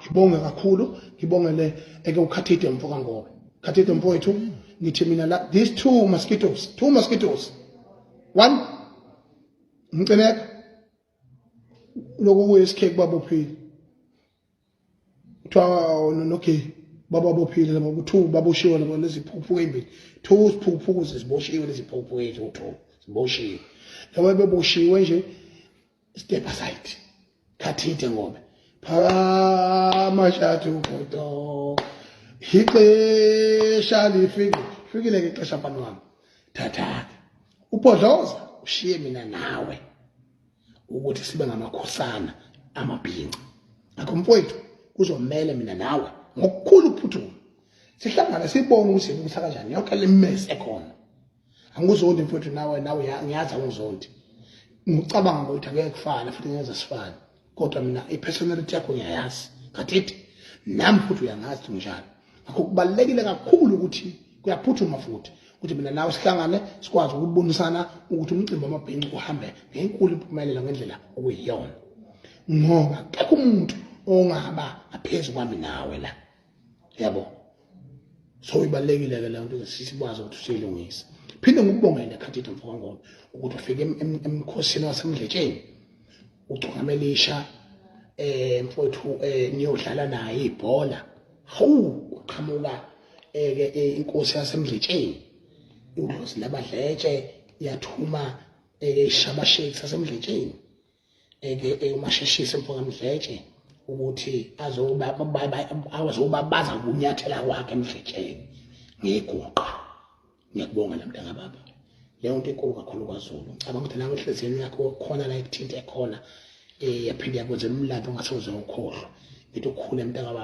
ngibonge kakhulu ngibongele eke ukhathide mfo kangobe khathide mfowethu ngithi mina la these two mosquitoes two mosquitoes one umcineka lokhu kuyisikheki babophile kuthiwa nonogeyi baba bophile laba ku-two baboshiwe laba leziphuphuka eyimbili two siphuphuku ziziboshiwe leziphuphuka eziwu-two ziboshiwe laba beboshiwe nje Stepper side. Kathinte ngobe. Phakama shathi ugodo. Ixesha lifike. Fikile ke ixesha mfana wami. Thatha. Ubhodloza ushiye mina nawe. Ukuthi sibe ngamakhosana amabhinca. Akho mfowethu kuzomele mina nawe ngokukhulu ukuphuthuka. Sihlangane sibone ukuthi yini ukuthi kanjani yonke le mess ekhona. angizondi mfowethu nawe nawe ngiyazi angizondi ngicabanga ukuthi angeke kufane futhi ngenza sifane kodwa mina i-personality yakho ngiyayazi kathithi nami futhi uyangazi ukuthi nginjani ngakho kubalulekile kakhulu ukuthi kuyaphuthuma futhi ukuthi mina nawe sihlangane sikwazi ukubonisana ukuthi umcimbi wamabhinci uhambe ngenkulu impumelelo ngendlela okuyiyona ngoba akekho umuntu ongaba ngaphezu kwami nawe la yabo so ibalekile ke lento sisibaza ukuthi siyilungisa phinde ngikubongele khathithi mfowangona ukuthi ufike emkhosini wasemdletsheni ucungamelisha eh mfowethu eh niyodlala naye ibhola hawu uqhamuka eh, ke eh, inkosi yasemdletsheni udlozi labadletshe yathuma eh, ishabasheki sasemdletsheni eyomasheshisa mfokamdletshe ukuthi azobabaza kunyathela kwakhe emdletsheni ngiguqa ngiyakubonga la mntana baba leyo nto enkulu kakhulu kwazulu ngicabanga ukuthi nawe enhliziyweni yakho khona la ekuthinte khona um yaphinde yakwenza umlando ongasoze ukhohlwa ngithi ukhule mntaka baba